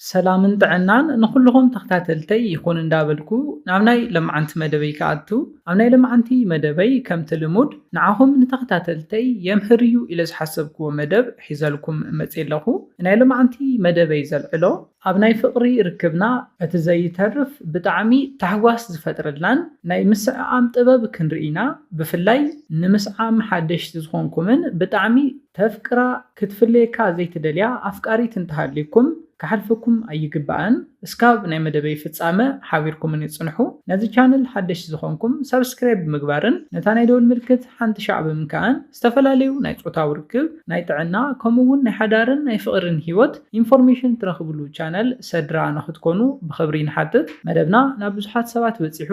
ሰላምን ጥዕናን ንኹሉኹም ተኽታተልተይ ይኹን እንዳበልኩ ናብ ናይ ለማዓንቲ መደበይ ክኣቱ ኣብ ናይ ለማዓንቲ መደበይ ከምቲ ልሙድ ንዓኹም ንተኽታተልተይ የምህር እዩ ኢለ ዝሓሰብክዎ መደብ ሒዘልኩም መጽየ ኣለኹ ናይ ለማዓንቲ መደበይ ዘልዕሎ ኣብ ናይ ፍቅሪ ርክብና እቲ ዘይተርፍ ብጣዕሚ ታሕጓስ ዝፈጥረልናን ናይ ምስዕዓም ጥበብ ክንርኢ ኢና ብፍላይ ንምስዓም ሓደሽቲ ዝኾንኩምን ብጣዕሚ ተፍቅራ ክትፍለየካ ዘይትደልያ ኣፍቃሪት እንተሃልዩኩም ክሓልፈኩም ኣይግባእን እስካብ ናይ መደበይ ፍጻመ ሓቢርኩምኒ ጽንሑ ነዚ ቻነል ሓደሽቲ ዝኮንኩም ሳብስክራይብ ብምግባርን ነታ ናይ ደወል ምልክት ሓንቲ ሻዕ ብምንካእን ዝተፈላለዩ ናይ ጾታዊ ርክብ ናይ ጥዕና ከምኡ ውን ናይ ሓዳርን ናይ ፍቅሪን ሂወት ኢንፎርሜሽን ትረክብሉ ቻነል ሰድራ ንክትኮኑ ብክብሪ ንሓትት መደብና ናብ ብዙሓት ሰባት በጺሑ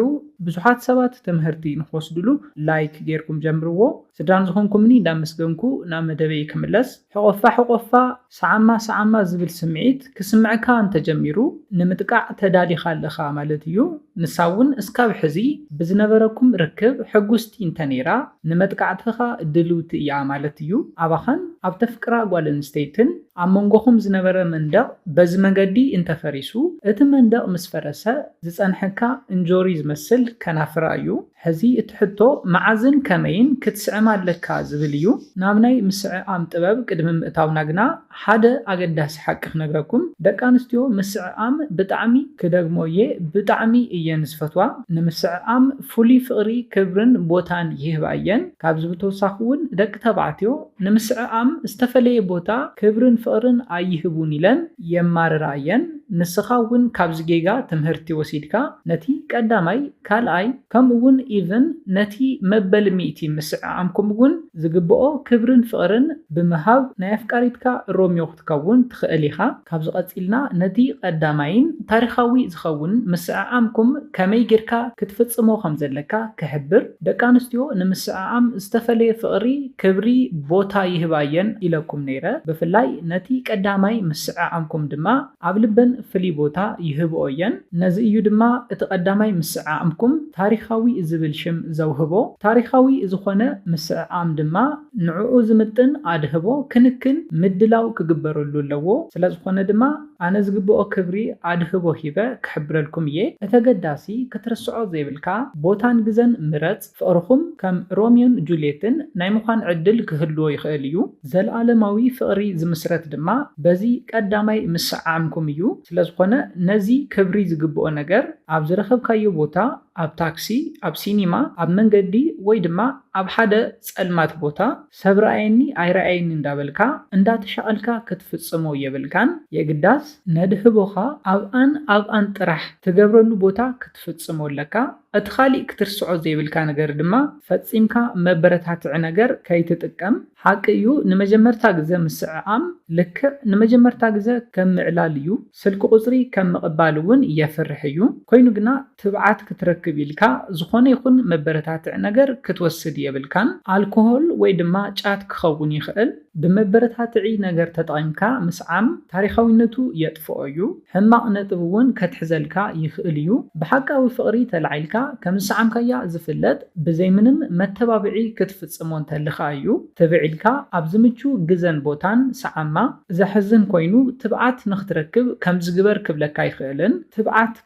ብዙሓት ሰባት ትምህርቲ ንክወስድሉ ላይክ ጌርኩም ጀምርዎ። ስድራን ዝኾንኩምኒ እንዳመስገንኩ ናብ መደበይ ክምለስ፣ ሕቖፋ ሕቖፋ፣ ሰዓማ ሰዓማ ዝብል ስምዒት ክስምዕካ እንተጀሚሩ ንምጥቃዕ ተዳሊኻ ኣለኻ ማለት እዩ። ንሳ እውን እስካብ ሕዚ ብዝነበረኩም ርክብ ሕጉስቲ እንተነይራ ንመጥቃዕትኻ ድልውቲ እያ ማለት እዩ። ኣባኻን ኣብ ተፍቅራ ጓል ኣንስተይትን ኣብ መንጎኹም ዝነበረ መንደቕ በዚ መገዲ እንተፈሪሱ እቲ መንደቕ ምስ ፈረሰ ዝፀንሐካ እንጆሪ ዝመስል ከናፍራ እዩ። ሕዚ እቲ ሕቶ መዓዝን ከመይን ክትስዕም ኣለካ ዝብል እዩ። ናብ ናይ ምስዕኣም ጥበብ ቅድሚ ምእታውና ግና ሓደ ኣገዳሲ ሓቂ ክነግረኩም ደቂ ኣንስትዮ ምስዕኣም ብጣዕሚ፣ ክደግሞ እየ ብጣዕሚ እየን ዝፈትዋ፣ ንምስዕኣም ፍሉይ ፍቕሪ ክብርን ቦታን ይህባ እየን። ካብዚ ብተወሳኺ እውን ደቂ ተባዕትዮ ንምስዕኣም ዝተፈለየ ቦታ ክብርን ፍቕርን ኣይህቡን ኢለን የማርራ እየን። ንስኻ እውን ካብዚ ጌጋ ትምህርቲ ወሲድካ ነቲ ቀዳማይ፣ ካልኣይ ከምኡ እውን ኢቭን ነቲ መበል ሚእቲ ምስዕዓምኩም እውን ዝግበኦ ክብርን ፍቅርን ብምሃብ ናይ ኣፍቃሪትካ ሮሚዮ ክትከውን ትክእል ኢካ ካብዚ ቀጺልና ነቲ ቀዳማይን ታሪካዊ ዝከውን ምስዕዓምኩም ከመይ ጌርካ ክትፍጽሞ ከም ዘለካ ክሕብር ደቂ ኣንስትዮ ንምስዕዓም ዝተፈለየ ፍቅሪ ክብሪ ቦታ ይህባ እየን ኢለኩም ነይረ ብፍላይ ነቲ ቀዳማይ ምስዕዓምኩም ድማ ኣብ ልበን ፍልይ ቦታ ይህብኦ እየን። ነዚ እዩ ድማ እቲ ቀዳማይ ምስዕኣምኩም ታሪኻዊ ዝብል ሽም ዘውህቦ። ታሪኻዊ ዝኾነ ምስዕኣም ድማ ንዕኡ ዝምጥን ኣድህቦ፣ ክንክን፣ ምድላው ክግበረሉ ኣለዎ። ስለዝኾነ ድማ ኣነ ዝግብኦ ክብሪ ኣድህቦ ሂበ ክሕብረልኩም እየ። እቲ ኣገዳሲ ክትርስዖ ዘይብልካ ቦታን ግዘን ምረፅ። ፍቕርኹም ከም ሮምዮን ጁልየትን ናይ ምዃን ዕድል ክህልዎ ይኽእል እዩ፣ ዘለኣለማዊ ፍቕሪ ዝምስረት ድማ በዚ ቀዳማይ ምስዕዓምኩም እዩ። ስለዝኾነ ነዚ ክብሪ ዝግብኦ ነገር ኣብ ዝረኸብካዮ ቦታ፣ ኣብ ታክሲ፣ ኣብ ሲኒማ፣ ኣብ መንገዲ ወይ ድማ ኣብ ሓደ ጸልማት ቦታ፣ ሰብ ረኣየኒ ኣይረኣየኒ እንዳበልካ እንዳተሻቐልካ ክትፍጽሞ የብልካን የግዳስ ነድህቦኻ ኣብኣን ኣብኣን ጥራሕ ትገብረሉ ቦታ ክትፍጽሞ ኣለካ እቲ ካሊእ ክትርስዖ ዘይብልካ ነገር ድማ ፈጺምካ መበረታትዒ ነገር ከይትጥቀም ሓቂ እዩ ንመጀመርታ ግዘ ምስዕዓም ልክዕ ንመጀመርታ ግዘ ከም ምዕላል እዩ ስልኪ ቁጽሪ ከም ምቕባል እውን የፍርሕ እዩ ኮይኑ ግና ትብዓት ክትረክብ ኢልካ ዝኾነ ይኹን መበረታትዒ ነገር ክትወስድ የብልካን፣ ኣልኮሆል ወይ ድማ ጫት ክኸውን ይኽእል። ብመበረታትዒ ነገር ተጠቒምካ ምስዓም ታሪኻዊነቱ የጥፍኦ እዩ፣ ሕማቕ ነጥቢ እውን ከትሕዘልካ ይኽእል እዩ። ብሓቃዊ ፍቕሪ ተላዒልካ ከም ዝሰዓምካያ ዝፍለጥ ብዘይ ምንም መተባብዒ ክትፍጽሞ እንተለኻ እዩ። ትብዕ ኢልካ ኣብ ዝምቹ ግዘን ቦታን ሰዓማ። ዘሕዝን ኮይኑ ትብዓት ንኽትረክብ ከምዚ ግበር ክብለካ ኣይኽእልን፣ ትብዓት።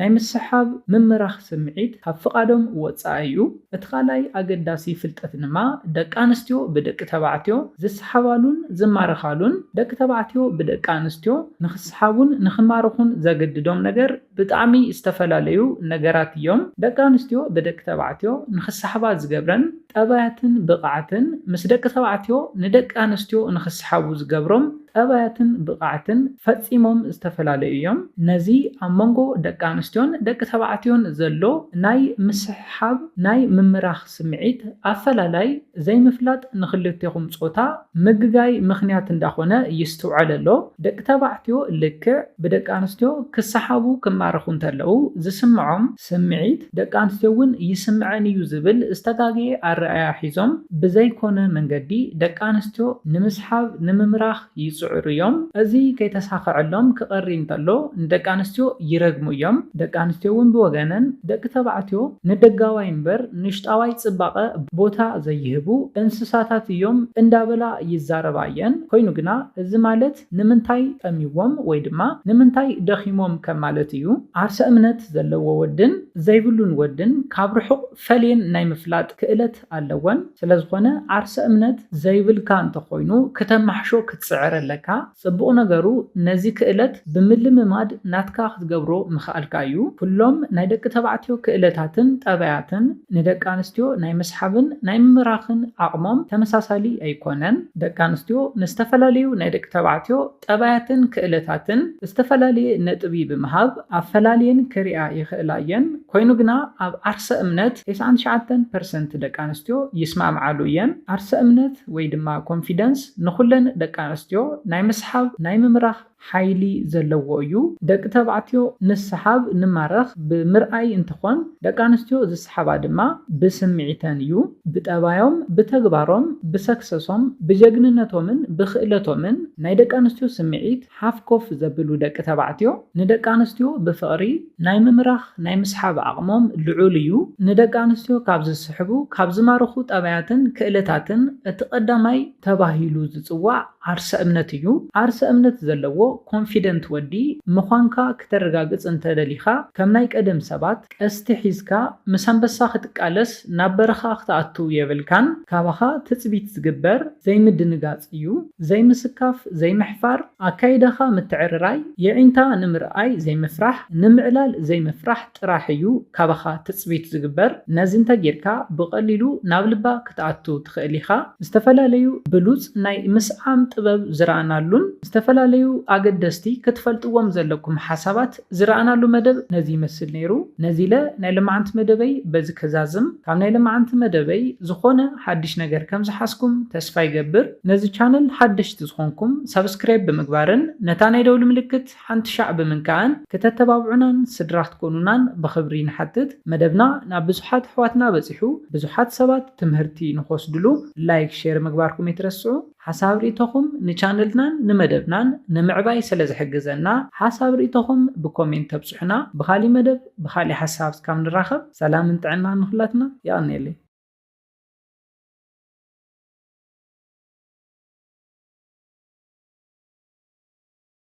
ናይ ምስሓብ፣ ምምራኽ ስምዒት ካብ ፍቓዶም ወጻኢ እዩ። እቲ ካልኣይ ኣገዳሲ ፍልጠት ድማ ደቂ ኣንስትዮ ብደቂ ተባዕትዮ ዝሰሓባሉን ዝማረኻሉን፣ ደቂ ተባዕትዮ ብደቂ ኣንስትዮ ንኽሰሓቡን ንኽማረኹን ዘገድዶም ነገር ብጣዕሚ ዝተፈላለዩ ነገራት እዮም። ደቂ ኣንስትዮ ብደቂ ተባዕትዮ ንኽሰሓባ ዝገብረን፣ ጠባያትን ብቕዓትን፣ ምስ ደቂ ተባዕትዮ ንደቂ ኣንስትዮ ንኽሰሓቡ ዝገብሮም ጠባያትን ብቕዓትን ፈጺሞም ዝተፈላለዩ እዮም። ነዚ ኣብ መንጎ ደቂ ኣንስትዮን ደቂ ተባዕትዮን ዘሎ ናይ ምስሕሓብ፣ ናይ ምምራኽ ስምዒት፣ ኣፈላላይ፣ ዘይምፍላጥ ንኽልቴኹም ጾታ ምግጋይ ምኽንያት እንዳኾነ ይስትውዐል ኣሎ። ደቂ ተባዕትዮ ልክዕ ብደቂ ኣንስትዮ ክሰሓቡ ክማረኹ እንተለዉ ዝስምዖም፣ ስምዒት ደቂ ኣንስትዮ እውን ይስምዐን እዩ ዝብል ዝተጋገየ ኣረኣእያ ሒዞም ብዘይኮነ መንገዲ ደቂ ኣንስትዮ ንምስሓብ፣ ንምምራኽ ይፅዕሩ እዮም። እዚ ከይተሳኸዐሎም ክቐሪ እንተሎ ንደቂ ኣንስትዮ ይረግሙ እዮም። ደቂ ኣንስትዮ እውን ብወገነን ደቂ ተባዕትዮ ንደጋዋይ እምበር ንውሽጣዋይ ፅባቐ ቦታ ዘይህቡ እንስሳታት እዮም እንዳበላ ይዛረባ እየን። ኮይኑ ግና እዚ ማለት ንምንታይ ጠምዩዎም ወይ ድማ ንምንታይ ደኺሞም ከም ማለት እዩ። ዓርሰ እምነት ዘለዎ ወድን ዘይብሉን ወድን ካብ ርሑቕ ፈልየን ናይ ምፍላጥ ክእለት ኣለወን። ስለዝኾነ ዓርሰ እምነት ዘይብልካ እንተኾይኑ ክተማሕሾ ክትጽዕር ኣለካ። ጽቡቕ ነገሩ ነዚ ክእለት ብምልምማድ ናትካ ክትገብሮ ምኽኣልካ እዩ። ኩሎም ናይ ደቂ ተባዕትዮ ክእለታትን ጠባያትን ንደቂ ኣንስትዮ ናይ ምስሓብን ናይ ምምራኽን ዓቕሞም ተመሳሳሊ ኣይኮነን። ደቂ ኣንስትዮ ንዝተፈላለዩ ናይ ደቂ ተባዕትዮ ጠባያትን ክእለታትን ዝተፈላለየ ነጥቢ ብምሃብ ኣፈላልየን ክሪኣ ይኽእላ እየን፣ ኮይኑ ግና ኣብ ዓርሰ እምነት ቴስዓን ትሽዓተን ፐርሰንት ደቂ ኣንስትዮ ይስማዕምዓሉ እየን። ዓርሰ እምነት ወይ ድማ ኮንፊደንስ ንኹለን ደቂ ኣንስትዮ ናይ ምስሓብ፣ ናይ ምምራኽ፣ ሓይሊ ዘለዎ እዩ። ደቂ ተባዕትዮ ንስሓብ፣ ንማረኽ፣ ብምርኣይ እንትኾን ደቂ ኣንስትዮ ዝስሓባ ድማ ብስምዒተን እዩ። ብጠባዮም፣ ብተግባሮም፣ ብሰክሰሶም፣ ብጀግንነቶምን ብኽእለቶምን ናይ ደቂ ኣንስትዮ ስምዒት ሓፍኮፍ ዘብሉ ደቂ ተባዕትዮ ንደቂ ኣንስትዮ ብፍቕሪ ናይ ምምራኽ፣ ናይ ምስሓብ ዓቕሞም ልዑል እዩ። ንደቂ ኣንስትዮ ካብ ዝስሕቡ፣ ካብ ዝማርኹ ጠባያትን ክእለታትን እቲ ቀዳማይ ተባሂሉ ዝፅዋዕ፣ ዓርሰ እምነት እዩ ዓርሰ እምነት ዘለዎ ኮንፊደንት ወዲ ምዃንካ ክተረጋግጽ እንተ ደሊኻ ከም ናይ ቀደም ሰባት ቀስቲ ሒዝካ ምስ ኣንበሳ ክትቃለስ ናብ በረኻ ክትኣቱ የብልካን ካባኻ ትጽቢት ዝግበር ዘይምድንጋጽ እዩ ዘይምስካፍ ዘይምሕፋር ኣካይዳኻ ምትዕርራይ የዒንታ ንምርኣይ ዘይምፍራሕ ንምዕላል ዘይምፍራሕ ጥራሕ እዩ ካባኻ ትጽቢት ዝግበር ነዚ እንተ ጌርካ ብቐሊሉ ናብ ልባ ክትኣቱ ትኽእል ኢኻ። ዝተፈላለዩ ብሉጽ ናይ ምስዓም ጥበብ ዝረኣናሉን ዝተፈላለዩ ኣገደስቲ ክትፈልጥዎም ዘለኩም ሓሳባት ዝረኣናሉ መደብ ነዚ ይመስል ነይሩ። ነዚለ ናይ ለማዓንቲ መደበይ በዚ ከዛዝም። ካብ ናይ ለማዓንቲ መደበይ ዝኾነ ሓድሽ ነገር ከም ዝሓዝኩም ተስፋ ይገብር። ነዚ ቻነል ሓደሽቲ ዝኾንኩም ሳብስክራይብ ብምግባርን ነታ ናይ ደውሊ ምልክት። ሓንቲ ሻዕ ብምንካዕን ክተተባብዑናን ስድራ ክትኮኑናን ብኽብሪ ንሓትት መደብና ናብ ብዙሓት ኣሕዋትና በጺሑ ብዙሓት ሰባት ትምህርቲ ንኽወስድሉ ላይክ ሼር ምግባርኩም ኣይትረስዑ ሓሳብ ሪኢቶኹም ንቻነልናን ንመደብናን ንምዕባይ ሰለ ዝሕግዘና ሓሳብ ሪኢቶኹም ብኮሜንት ተብጹሑና ብኻሊእ መደብ ብኻሊእ ሓሳብ እስካብ ንራኸብ ሰላምን ጥዕናን ንኹላትና የቐንየለይ።